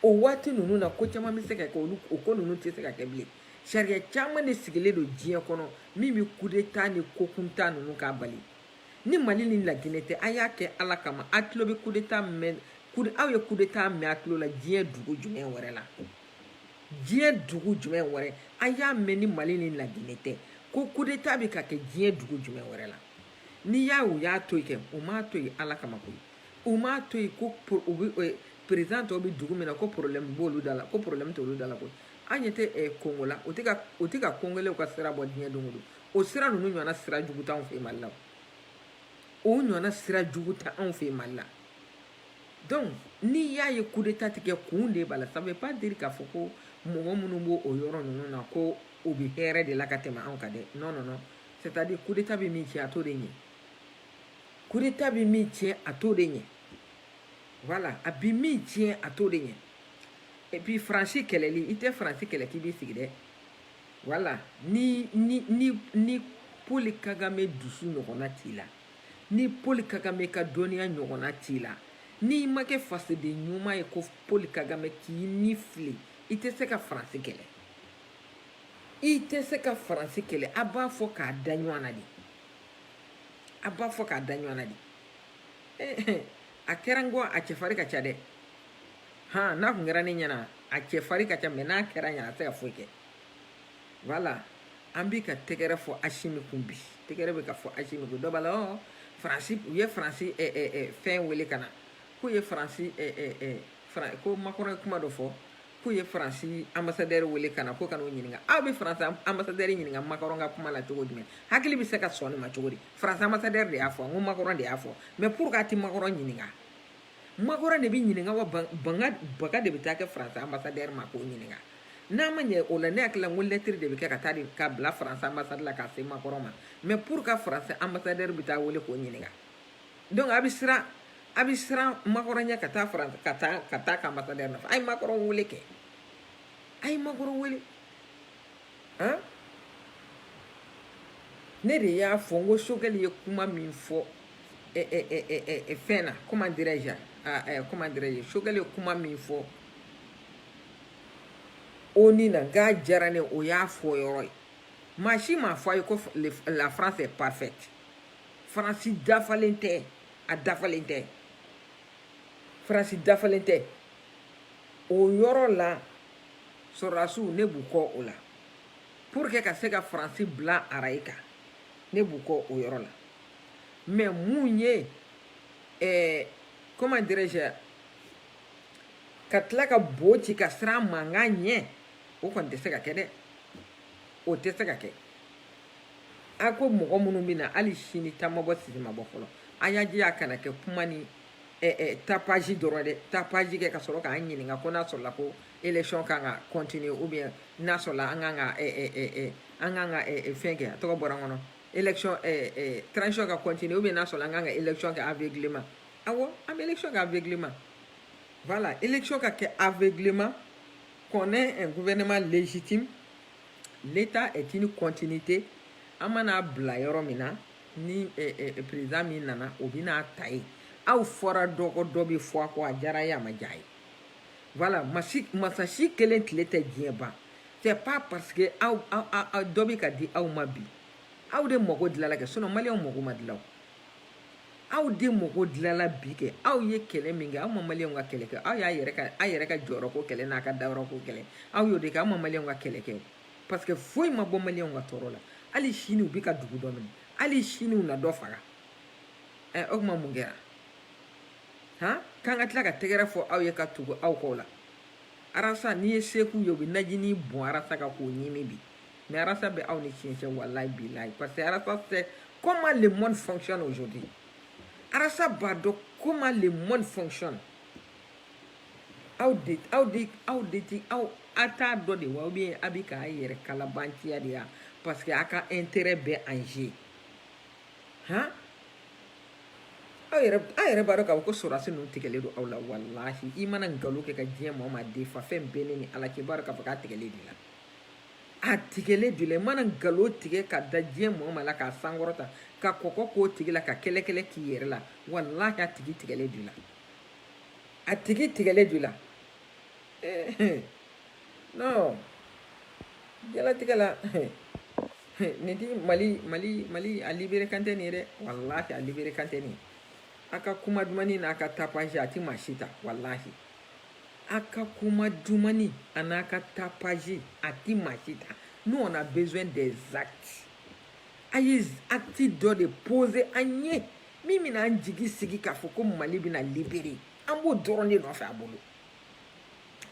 O waati ninnu na ko caman bɛ se ka kɛ olu o ko ninnu tɛ se ka kɛ bilen sariya caman de sigilen don diɲɛ kɔnɔ min bɛ coup d'état ni ko kuntan ninnu k'a bali ni mali ni laginɛ tɛ a y'a kɛ ala kama a tulo bɛ coup d'état mɛn aw ye coup d'état mɛn a tulo la diɲɛ dugu jumɛn wɛrɛ la diɲɛ dugu jumɛn wɛrɛ a y'a mɛn ni mali ni laginɛ tɛ ko coup d'état bɛ ka kɛ diɲɛ dugu jumɛn wɛrɛ la n'i y'a u y'a to yen kɛ u m'a to yen ala kama koyi u m'a to yen ko président tɔw bɛ dugu min na ko problème b'olu da la ko problème t'olu da la koyi an ɲɛ tɛ kongo la o tɛ ka o tɛ ka kongolɛw ka sira bɔ diɲɛ don o don o sira ninnu ɲɔgɔnna sira jugu t'anw fɛ mali la o ɲɔgɔnna sira jugu t'anw fɛ mali la donc n'i y'a ye coup d'état tɛ kɛ kun de b'a la ça veut pas dire k'a fɔ ko mɔgɔ minnu b'o o yɔrɔ ninnu na ko u bɛ hɛrɛ de la ka tɛmɛ anw kan dɛ non non non c'est à dire coup d'état bɛ min tiɲɛ a t'o de ɲɛ coup d'état bɛ min tiɲɛ a t'o de ɲɛ voilà a bɛ min tiɲɛ a t'o de ɲɛ et puis faransi kɛlɛli i tɛ faransi kɛlɛ k'i b'i sigi dɛ voilà ni ni ni ni paul kagame dusu ɲɔgɔnna t'i la ni paul kagame ka dɔnniya ɲɔgɔnna t'i la n'i ma kɛ fasoden ɲuman ye ko paul kagame k'i ni fili i tɛ se ka faransi kɛlɛ i tɛ se ka faransi kɛlɛ a b'a fɔ k'a da ɲɔgɔn na de a b'a fɔ k'a da ɲɔgɔn na de eh, a kɛra n kɔ a cɛfari ka ca dɛ han n'a kun kɛra ne ɲɛna a cɛfari ka ca mais n'a kɛra ɲɛna a tɛ ka foyi kɛ voilà an bi ka tɛgɛrɛ fɔ asimi kun bi tɛgɛrɛ bɛ ka fɔ asimi kun dɔ b'a la ɔ faransi u ye faransi eh, eh, fɛn wele ka na k'u ye faransi ko macron ye kuma dɔ fɔ k'u ye faransi anbasadɛri wele ka na ko ka n'o ɲininka aw bɛ faransi anbasadɛri ɲininka makɔrɔn ka kuma la cogo jumɛn hakili bɛ se ka sɔn nin ma cogo di faransi anbasadɛri de y'a fɔ n ko makɔrɔn de y'a fɔ mais pourquoi a tɛ makɔrɔn ɲininka makɔrɔn de bɛ ɲininka wa bagabaga de bɛ taa kɛ faransi anbasadɛri ma k'o ɲininka n'a ma ɲɛ o la ne hakili la n ko lɛtiri de bɛ kɛ ka taa de ka bila faransi anbasadi la ka se makɔrɔn ma mais pourquoi faransi anbasadɛri bɛ taa wele k'o ɲininka donc a bɛ siran a bɛ siran makɔrɔn ɲɛ ka taa faransi ka taa ka taa ka anbasadɛri nɔfɛ a ye makɔrɔn wele kɛ a ye makɔrɔn wele han ne de y'a fɔ n ko sogɛli ye kuma min fɔ ɛ ɛ ɛ ɛ ɛ fɛn na comment dirais-je ɛ comment dirais-je sogɛli ye kuma min fɔ onu na k'a diyara ne o y'a fɔ yɔrɔ ye maa si m'a fɔ a ye ko la france est parfaite faransi dafalen tɛ a dafalen tɛ faransi dafalen tɛ o yɔrɔ la sɔrɔdasiw ne b'u kɔ o la pour que ka se ka faransi bila araye kan ne b'u kɔ o yɔrɔ la mais mun ye eh, comment dirais-je ka tila ka bo ci ka siran mankan ɲɛ o kɔni tɛ se ka kɛ dɛ o tɛ se ka kɛ a ko mɔgɔ minnu bɛ na hali sini ta ma bɔ sisi ma bɔ fɔlɔ a y'a jija a kana kɛ kuma ni eh, eh, tapage dɔrɔn dɛ tapage kɛ ka sɔrɔ k'an ɲininka ko n'a sɔrɔla ko élection kan ka continuer ou bien n'a sɔrɔla an kan ka eh, eh, eh, an kan ka fɛn kɛ a tɔgɔ bɔra n kɔnɔ élection transition ka continuer ou bien n'a sɔrɔla an kan ka élection kɛ aveuglement awɔ an bɛ élection kɛ aveuglement voilà élection ka kɛ aveuglement qu'on ait un gouvernement légitime l'état est une continuité an mana bila yɔrɔ min na ni président min nana o bɛn'a ta yen aw fɔra dɔ kɔ dɔ bɛ fɔ a kɔ a diyara ye a ma diya ye voilà masa si kelen tile tɛ diɲɛ ban c'est pas parce que aw dɔ bɛ ka di aw ma bi aw de mago dilanna kɛ sinon maliyɛnw mago ma dilan o aw de mago dilanna bi kɛ aw ye kɛlɛ min kɛ aw ma maliyɛnw ka kɛlɛ kɛ aw y'a yɛrɛ ka aw yɛrɛ ka jɔyɔrɔ ko kɛlɛ n'a ka dayɔrɔ ko kɛlɛ aw y'o de kɛ aw ma maliyɛnw ka kɛlɛ kɛ parce que foyi ma bɔ maliyɛnw ka tɔɔrɔ la hali sini u bɛ ka dugu dɔ minɛ hali sini u na dɔ faga ɛ o tuma mun kɛra han k'an ka tila ka tɛgɛrɛ fɔ aw ye ka tugu aw kɔ la arasa n'i ye seko ye u bɛ najini bɔn arasa kan k'o ɲimi bi Mais Arasa bɛ aw ni tiɲɛ cɛ wallahi billahi parce que Arasa sait comment le monde fonctionne aujourd'hui. Arasa b'a dɔn comment le monde fonctionne. Aw de aw de aw de ti aw a t'a dɔn de wa ou bien a bɛ k'a yɛrɛ kalabanciya de ya parce que a ka intérêt bɛ en jeu. Han? aw yɛrɛ a yɛrɛ b'a dɔn k'a fɔ ko sɔrɔdasi ninnu tigɛlen don aw la walahi i mana nkalon kɛ ka diɲɛ maa o maa defa fɛn bɛ ne ni ala cɛ i b'a dɔn k'a fɔ k'a tigɛlen de la a tigɛlen de la i mana nkalon tigɛ ka da diɲɛ maa o maa la k'a sankɔrɔta ka kɔkɔ k'o tigi la ka kɛlɛkɛlɛ k'i yɛrɛ la walahi a tigi tigɛlen de la a tigi tigɛlen de la non diɲɛlatigɛ la nin ti mali mali mali a libérer kan tɛ nin ye dɛ walahi a libérer kan tɛ nin ye a ka kuma dumani n'a ka tapage a ti maa si ta walahi a ka kuma dumani an'a ka tapage a ti maa si ta nous on a besoin des actes a ye acte dɔ de poser an ye min bɛna an jigi sigi k'a fɔ ko mali bɛna libérer an b'o dɔrɔn de nɔfɛ a bolo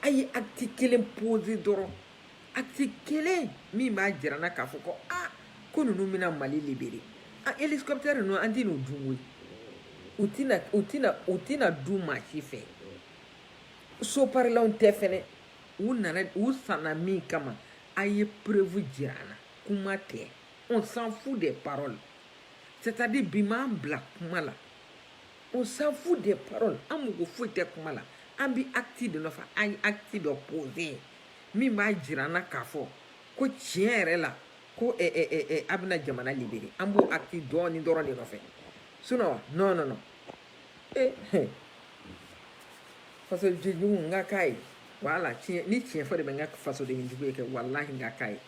a ye acte kelen poser dɔrɔn acte kelen min b'a jira an na k'a fɔ ko aa ko ninnu bɛna mali libérer an hélicoptère ninnu an tɛn'u dun koyi u tɛna u tɛna u tɛna dun maa si fɛ soparilanw tɛ fɛnɛ u nana u sanna min kama a ye preuve jira an na kuma tɛ on s'en fout des paroles c'est à dire bi m'an bila kuma la on s'en fout des paroles an mago foyi tɛ kuma la an bi acte de nɔfɛ an ye acte dɔ poser min b'a jira an na k'a fɔ ko tiɲɛ yɛrɛ la ko a bɛna jamana libérer an b'o acte dɔɔni dɔrɔn de nɔfɛ Sinon non non ee fasodenjugu n ka k'a ye wala tiɲɛ ni tiɲɛ fɔ de bɛ n kɛ fasodenjugu ye kɛ walahi n ka k'a ye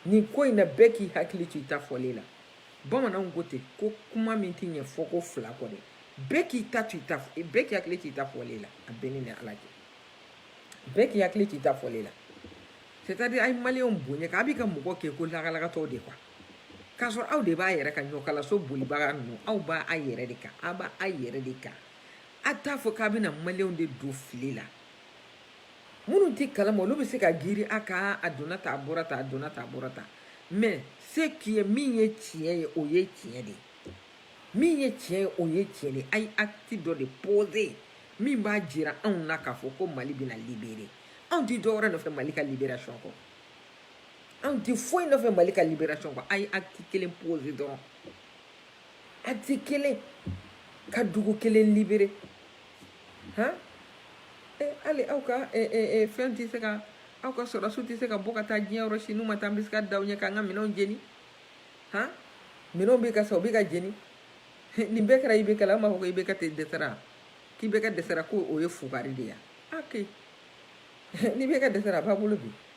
nin ko in na bɛɛ k'i hakili to i ta fɔlen la bamananw ko ten ko kuma min tɛ ɲɛ fɔko fila kɔ dɛ bɛɛ k'i ta to i ta bɛɛ k'i hakili to i ta fɔlen la a bɛ ne ni ala cɛ bɛɛ k'i hakili to i ta fɔlen la c'est à dire a ye maliyɛnw bonya k'a bi ka mɔgɔ kɛ ko lagalagatɔw de quoi K'a sɔrɔ aw de b'a yɛrɛ ka ɲɔkalaso bolibaga ninnu aw b'a a yɛrɛ de kan aw b'a a yɛrɛ de kan a t'a fɔ k'a bɛna maliyɛnw de don fili la minnu tɛ kalama olu bɛ se ka girin a kan a donna tan a bɔra tan a donna tan a bɔra tan mais ce qui est min ye tiɲɛ ye o ye tiɲɛ de ye min ye tiɲɛ ye o ye tiɲɛ de ye a ye acte dɔ de poser min b'a jira anw na k'a fɔ ko mali bɛna libérer anw tɛ dɔwɛrɛ nɔfɛ mali ka libération kɔ anw tɛ foyi nɔfɛ mali ka liberation kɔ a ye acte kelen pose dɔrɔn acte kelen ka dugu kelen libere han eh, hali aw ka eh, eh, eh, fɛn tɛ se ka aw ka sɔrɔdasiw tɛ se ka bɔ ka taa diɲɛ yɔrɔ si n'u ma taa an bɛ se ka da u ɲɛ k'an ka minɛnw jeni han minɛnw bɛ ka sa u bɛ ka jeni nin bɛɛ kɛra IBK la an b'a fɔ ko IBK de dɛsɛra k'IBK dɛsɛra ko o ye fugari de ye ok ni IBK dɛsɛra a b'aw bolo bi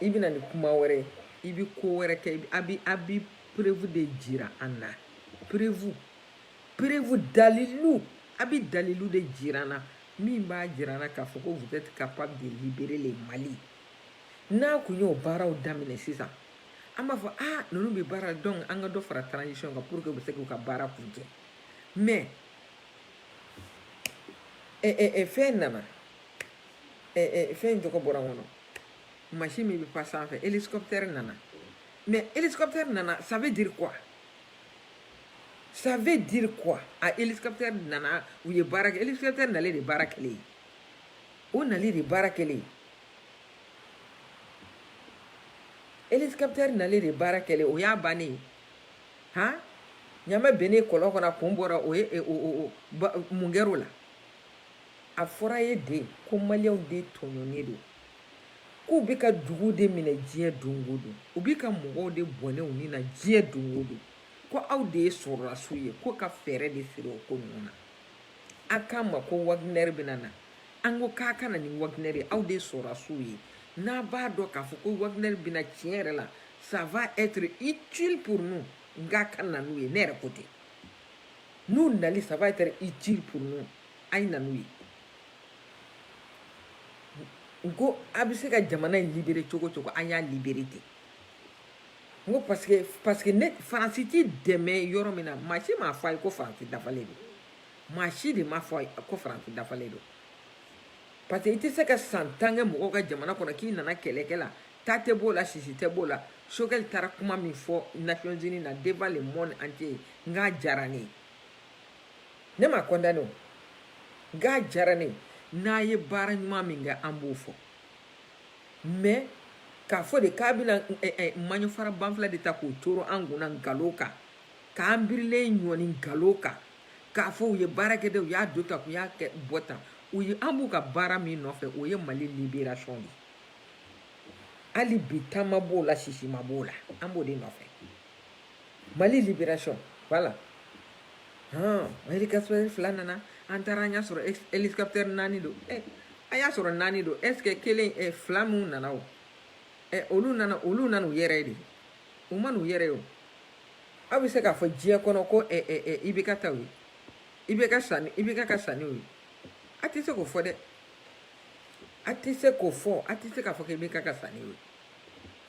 i bɛ na ni kuma wɛrɛ i bɛ ko wɛrɛ kɛ a bɛ a bɛ preuve de jira an na preuve preuve dalilu a bɛ dalilu de jira an na min b'a jira an na k'a fɔ ko vous êtes capable de libérer le Mali n'a kun y'o baaraw daminɛ sisan an b'a fɔ aa ninnu bɛ baara la donc an ka dɔ fara transition kan pour que u bɛ se k'u ka baara kuncɛ mais ɛ ɛ ɛ fɛn nana. fɛn in tɔgɔ bɔra n kɔnɔ machine min bɛ pan sanfɛ hélicoptère nana mais hélicoptère nana ça veut dire quoi ça veut dire quoi a hélicoptère nana u ye baara kɛ hélicoptère nalen de baara kɛlen ye o nali de baara kɛlen ye hélicoptère nalen de baara kɛlen o y'a bannen ye han ɲamɛ bennen kɔlɔn kɔnɔ a kun bɔra o ye mun kɛr'o la a fɔra ye de ko maliyɛnw de tɔɲɔnnen don k'u bɛ ka dugu de minɛ diɲɛ don o don u bɛ ka mɔgɔw de bɔnɛ u ni na diɲɛ don o don ko aw de ye sɔrɔlasiw ye ko ka fɛɛrɛ de siri o ko ninnu na a k'an ma ko Wagner bɛna na an ko k'a ka na ni Wagner ye aw de ye sɔrɔlasiw ye n'a b'a dɔn k'a fɔ ko Wagner bɛna tiɲɛ yɛrɛ la ça va être utile pour nous n k'a ka na n'u ye ne yɛrɛ ko ten n'u nali ça va être utile pour nous a ye na n'u ye n ko a bɛ se ka jamana in libere cogo cogo an y'a libere ten n ko parce que parce que ne faransi t'i dɛmɛ yɔrɔ min na maa si m'a fɔ a ye ko faransi dafalen don maa si de m'a fɔ a ye ko faransi dafalen don parce que i tɛ se ka san tan kɛ mɔgɔw ka jamana kɔnɔ k'i nana kɛlɛkɛ la ta tɛ b'o la sisi tɛ b'o la Choguel taara kuma min fɔ nations unies na devant le monde entier n k'a diyara ne ye ne ma condamné o n k'a diyara ne ye n'a ye baara ɲuman min kɛ an b'o fɔ mais k'a fɔ de k'a bɛna eh, eh, maɲɔfara banfila de ta k'o coro an kunna nkalon kan k'an birilen ɲɔni nkalon kan k'a fɔ u ye baara kɛ dɛ u y'a don tan k'u y'a kɛ bɔ tan u ye an b'u ka baara min nɔfɛ o ye mali liberation de hali bi ta ma b'o la sisi ma b'o la an b'o de nɔfɛ mali libération voilà hɔn hélicoptère fila nana an taara an y'a sɔrɔ ex- hélicoptère naani don ɛ a y'a sɔrɔ naani don est ce que kelen ɛ fila minnu nana o ɛ olu nana olu nana u yɛrɛ de u ma n'u yɛrɛ ye o aw bɛ se k'a fɔ diɲɛ kɔnɔ ko ɛ ɛ ɛ IBK taw ye IBK sanni IBK ka sanniw ye a tɛ se k'o fɔ dɛ a tɛ se k'o fɔ a tɛ se k'a fɔ ko IBK ka sanni ye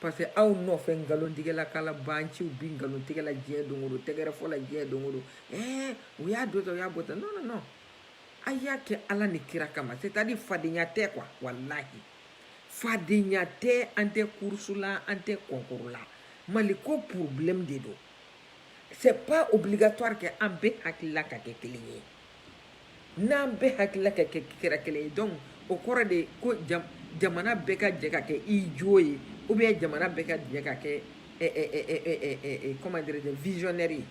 parce que aw nɔfɛ nkalontigɛla kalabanciw bi nkalontigɛla diɲɛ don o don tɛgɛrɛfɔla diɲɛ don o don ɛɛ u y'a don tan u y'a bɔ tan non non non a y'a kɛ ala ni kira kama c'est à dire fadenya tɛ quoi walahi fadenya tɛ an tɛ course la an tɛ concours la mali ko problème de don c'est pas obligatoire que an bɛɛ hakilila ka kɛ kelen ye n'an bɛɛ hakilila ka kɛra kelen ye donc o kɔrɔ de ye ko jamana bɛɛ ka jɛ ka kɛ idiot ye ou bien jamana bɛɛ ka jɛ ka kɛ comment dirais-je visionnaire ye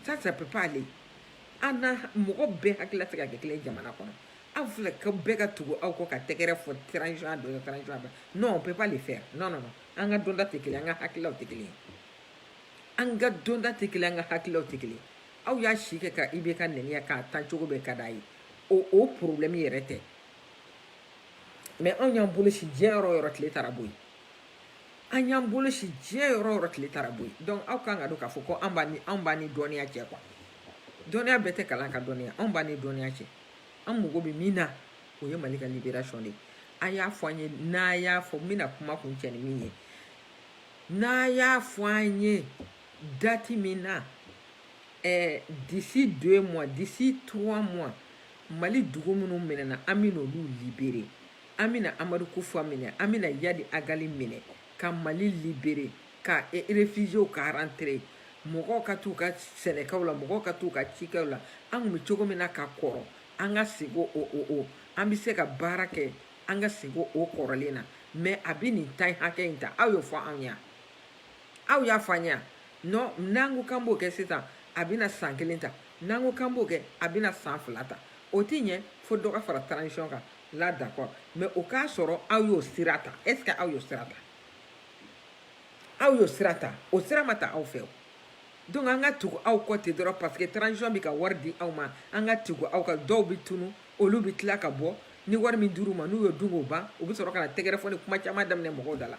ça ça peut pas aller an na mɔgɔ bɛɛ hakilila tɛ ka kɛ kelen jamana kɔnɔ aw filɛ ka bɛɛ ka tugu aw kɔ ka tɛgɛrɛ fɔ transition a dɔ transition a dɔ non on peut pas le faire non non non an ka dɔnta tɛ kelen an ka hakililaw tɛ kelen an ka dɔnta tɛ kelen an ka hakililaw tɛ kelen aw y'a si kɛ ka IBK nɛni k'a tan cogo bɛɛ ka d'a ye o o problɛmi yɛrɛ tɛ mais anw y'an bolo sin diɲɛ yɔrɔ o yɔrɔ tile taara bɔ yen an y'an bolo sin diɲɛ yɔrɔ o yɔrɔ tile taara bɔ yen donc aw kan ka dɔn k'a fɔ ko an b'a ni anw b'a ni dɔnniya cɛ quoi dɔnniya bɛɛ tɛ kalan ka dɔnniya anw b'a ni dɔnniya cɛ an mago bɛ min na o ye mali ka libération de ye a y'a fɔ an ye n'a y'a fɔ n bɛna kuma kuncɛ ni min ye n'a y'a fɔ an ye date min na eh, d'ici deux mois d'ici trois mois mali dugu minnu minɛna an bɛna olu libérer an bɛna amadu kufa minɛ an bɛna iyad ag ghali minɛ ka mali libérer ka e, réfugiés ka rentrer mɔgɔw ka t'u ka sɛnɛkɛw la mɔgɔw ka t'u ka cikɛw la an tun bɛ cogo min na ka kɔrɔ an ka segin o o o an bɛ se ka baara kɛ an ka segin o kɔrɔlen na mais a bɛ nin temps hakɛ in ta aw y'o fɔ anw ye aw y'a fɔ an ye non n'an ko k'an b'o kɛ sisan a bɛna san kelen ta n'an ko k'an b'o kɛ a bɛna san fila ta o tɛ ɲɛ fo dɔ ka fara transition kan là d'accord mais o k'a sɔrɔ aw y'o sira ta est ce que aw y'o sira ta aw y'o sira ta o sira ma ta aw fɛ o donc an ka tugu aw kɔ ten dɔrɔn parce que transition bɛ ka wari di aw ma an ka tugu aw kɔ dɔw bɛ tunu olu bɛ tila ka bɔ ni wari min dir'u ma n'u y'o dun k'o ban u bɛ sɔrɔ ka na tɛgɛrɛ fɔ ni kuma caman daminɛ mɔgɔw da la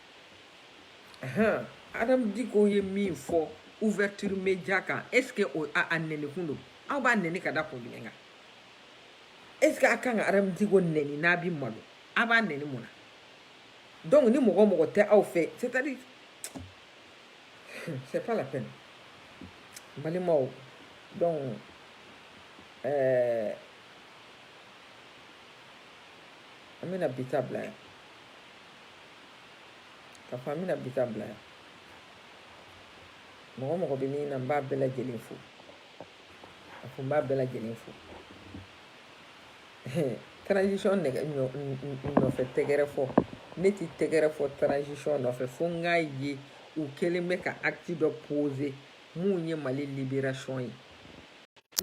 hɔn adamu diko ye min fɔ ouverture media kan est ce que o a a nɛnikun don aw b'a nɛni ka da kun jumɛn kan est ce que a kan ka adamu diko nɛni n'a bi malo a b'a nɛni mun na donc ni mɔgɔ mɔgɔ tɛ aw fɛ c'est à dire c'est pas la peine balimaw donc ɛɛ an bɛna bi ta bila yan Ka fɔ an bɛna bi ta bila yan mɔgɔ mɔgɔ bɛ min na n b'a bɛɛ lajɛlen fo a fɔ n b'a bɛɛ lajɛlen fo transition nɔfɛ tɛgɛrɛ fɔ ne ti tɛgɛrɛ fɔ transition nɔfɛ fo n k'a ye u kɛlen bɛ ka acte dɔ poser mun ye Mali liberation ye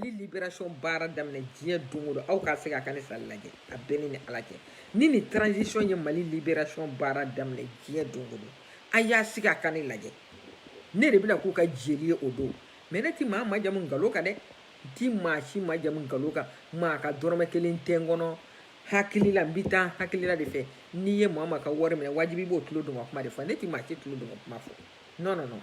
ni liberation baara daminɛ diɲɛ don o don aw ka se ka ka ne sali lajɛ a bɛɛ ni ni ala cɛ ni ni transition ye mali liberation baara daminɛ diɲɛ don o don a y'a sigi a ka ne lajɛ ne de bɛna k'u ka jeli ye o don mais ne ti maa majamu nkalon kan dɛ n ti maa si majamu nkalon kan maa ka dɔrɔmɛ kelen tɛ n kɔnɔ hakili la n bi taa hakilila de fɛ n'i ye maa maa ka wari minɛ wajibi i b'o tulo dungɔ kuma de fɔ ne ti maa si tulo dungɔ kuma fɔ non non non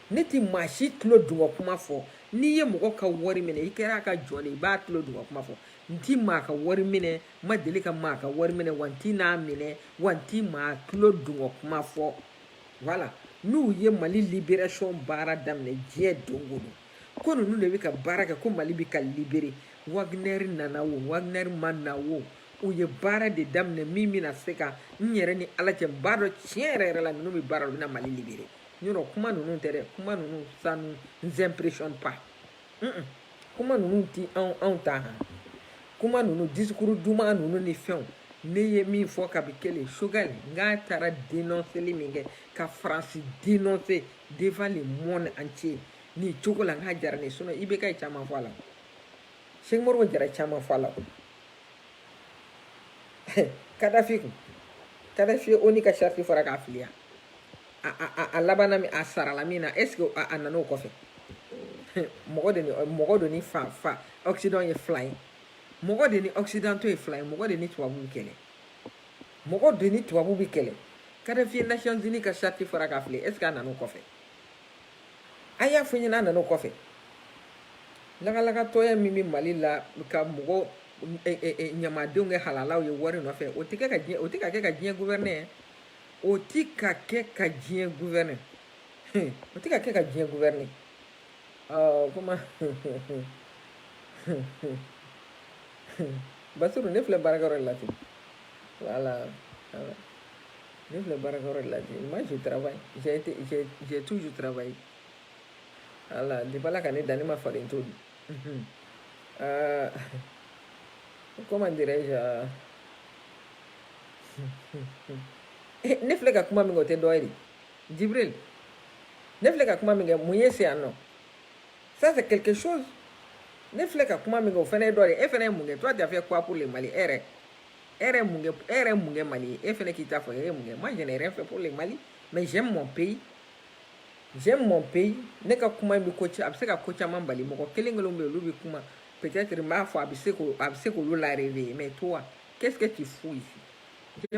ne ti maa si tulo dungɔ kuma fɔ n'i ye mɔgɔ ka wari minɛ i kɛra a ka jɔn de i b'a tulo dungɔ kuma fɔ n ti maa ka wari minɛ n ma deli ka maa ka wari minɛ wa n ti n'a minɛ wa n ti maa tulo dungɔ kuma fɔ voilà n'u ye mali liberation baara daminɛ diɲɛ don o don ko ninnu de bɛ ka baara kɛ ko mali bɛ ka libere wagner nana wo wagner ma na wo u ye baara de daminɛ min bɛna se ka n yɛrɛ ni ala cɛ n b'a dɔn tiɲɛ yɛrɛ yɛrɛ la ninnu bɛ baara la u bɛna mali libere yɔrɔ kuma ninnu tɛ dɛ kuma ninnu ça nous impressionne pas kuma ninnu ti anw anw ta han kuma ninnu discours duman ninnu ni fɛnw ne ye min fɔ kabi kelen choguel n k'a taara denɔnseli min kɛ ka faransi denɔnse devant le monde entier nin cogo la n k'a diyara ne ye sinɔn IBK ye caman fɔ a la sɛki modibo jara caman fɔ a la kadafi kun kadafi ye onu ka sariti fara k'a fili yan a a a labanna min a sarala min na est ce que a a nan'o kɔfɛ mɔgɔ de ni mɔgɔ de ni fa fa occident ye fila ye mɔgɔ de ni occidentaux ye fila ye mɔgɔ de ni tubabu bɛ kɛlɛ mɔgɔ de ni tubabu bɛ kɛlɛ kadafi ye nations unies ka sariti fara k'a fili est ce que a nan'o kɔfɛ a y'a fɔ n ɲɛna a nana o kɔfɛ lagalagatɔya min bɛ mali la ka mɔgɔ ɲamadenw kɛ halalaw ye wari nɔfɛ o tɛ ka o tɛ ka kɛ ka diɲɛ gouverner o tɛ ka kɛ ka diɲɛ gouverner o tɛ ka kɛ ka diɲɛ gouverner ɔ kuma basiru ne filɛ baarakɛyɔrɔ de la ten voilà Ne filɛ baarakɛyɔrɔ de la bi moi je travaille j'ai été j'ai j'ai toujours travaillé voilà depuis Ala ka ne da ne ma faden to dun unhun euh, comment dirais-je euh, eh, ne filɛ ka kuma min kɛ o tɛ dɔ ye de Jibril ne filɛ ka kuma min kɛ mun ye se yan non ça c'est quelque chose ne filɛ ka kuma min kɛ o fana ye dɔ de ye e fana ye mun kɛ toi tu as fait quoi pour le Mali e yɛrɛ e yɛrɛ mun kɛ e yɛrɛ mun kɛ Mali ye e fɛnɛ k'i ta fɔ e yɛrɛ mun kɛ moi je n'ai rien fait pour le Mali mais j'aime mon pays j'aime mon pays ne ka kuma bɛ ko a bɛ se ka ko caman bali mɔgɔ kelen kelenw bɛ yen olu bɛ kuma peut-être n b'a fɔ a bɛ se k'o a bɛ se k'olu la réveiller mais toi qu'est-ce que tu fous ici